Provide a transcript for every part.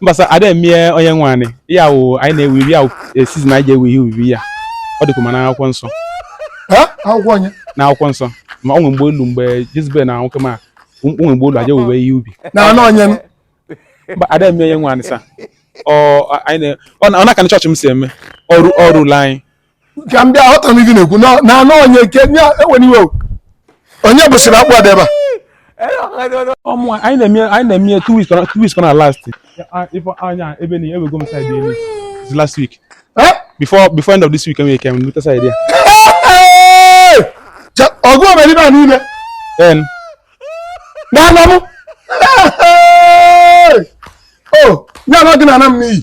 mba sir ada emie onye nwe anyị ya wụ anyị na-ewe ubi ya e, season anyị ji ewe ihe ubi ya ọ dịkwa ma na akwụkwọ nsọ akwụkwọ onye na akwụkwọ nsọ ma ọ nwe mgbe olu mgbe jizbel na nwoke m o nwe mgbe olu a ja-ewe ihe ubi na anụ onye ada emie onye nwe anyị sir ọ na-aka na chọọchị m si eme ọrụ ọrụ ụlọ anyị ka m bịa aghọtara m ife ị na-ekwu na na anụ onye ke nye enwere iwe o. onye bụsịrị akpụ adị ebe a ọmụ anyị na-eme anyị na-eme ya two weeks ka na- two weeks ka na last Ah, ife anya ebe na ewego m side elu It's last week Eh? before before end of this week enwere ike m lute side ya Hey! Ja- ọgụ omeribe a niile then na anọ m Hey! o nye anọ gị na ana m n'iyi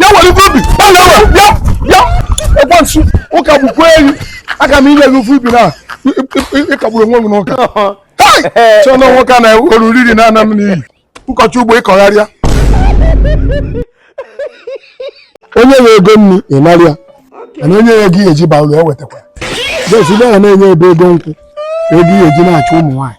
ya were ife ubi ọ na ya ya ya ekwensu ụka bụkwa eyi aka m inye gị ofu ubi na ịkagburu onwe gị n'ụka chọọ na nwoke a na-ewere oriri na ana m n'iyi ịkọchi ugbo ịkọgharịa onye nwe ego nri ị nara ya mana onye nye gị eji baa ụlọ ya wetakwa jesi na na-enye ebe ego nkwụ ego ihe eji na-achụ ụmụ nwaanyị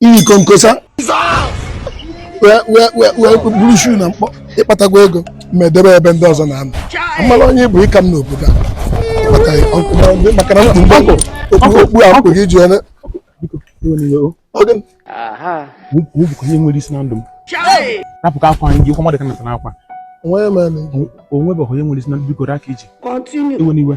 imikọ nkosa wee buru shoe na mkpọ ị kpatago ego ma edebe ebe ndị ọzọ na-anọ amala onye bụ ịka m n'obodo a maka na m kpu okpu a mkpụ gị ji onye bụkwa ihe nwere isi na ndụ m rapụ ka akwa anyị gị kwa mmadụ ka nata n'akwa o nwebeghị onye nwere isi na ndụ biko aka iji continue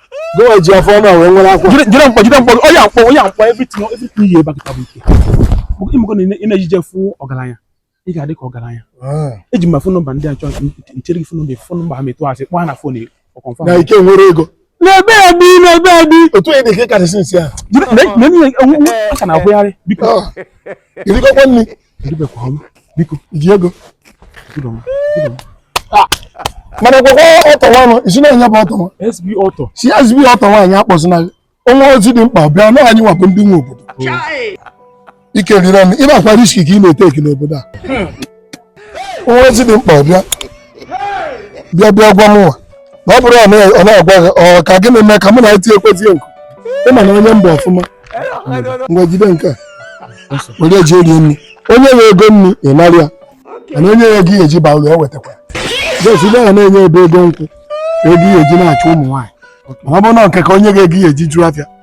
Gọwa ji afọ ọma wee nwere akwa. Jide jide mkpọ jide mkpọ onye akpọ onye akpọ everything everything ihe ebe kịta bụ ike. Oge imekọ na ị na-ejije fụ ọgaranya ị ga-adị ka ọgaranya. Ah. Eji m ma phone number ndị a chọọ nchere gị phone number phone number ha m tụọ asị kpọọ ha na phone ọ confirm. Na ike nwere ego. N'ebe a bi n'ebe a bi. Otu onye dị ka ị karịsị nsị ahụ. Jide na na ihe aka na-akwụgharị biko. I rikọkwa nri. eribekwa m biko iji ego mana ekwekwa ọtọ nwanụ isi na-enye bụ ọtọ nwa SB ọtọ si SB ọtọ nwaanyị akpọzina gị o nwe ozi dị mkpa bịa na anyị nwa bụ ndị nwe obodo ike rire m ị makwa risk ka ị na-eteki n'obodo a o nwe ozi dị mkpa bịa bịa bịa gwa mụnwa na ọ bụrụ ọ na-agwa gị ọ ka gịnị mee ka mụ na eti ekwezie nku ị ma na onye mba ọfụma ngwa jide nke a were je rie nri onye nwe ego nri ị nara ya mana onye nye gị eji ba ụlọ ewetakwa jesibe ya na-enye ebe ego nkwụ ego ihe eji na-achụ ụmụ nwaanyị mana ọ bụrụ na nke ka o nye gị ego ihe eji zụọ afịa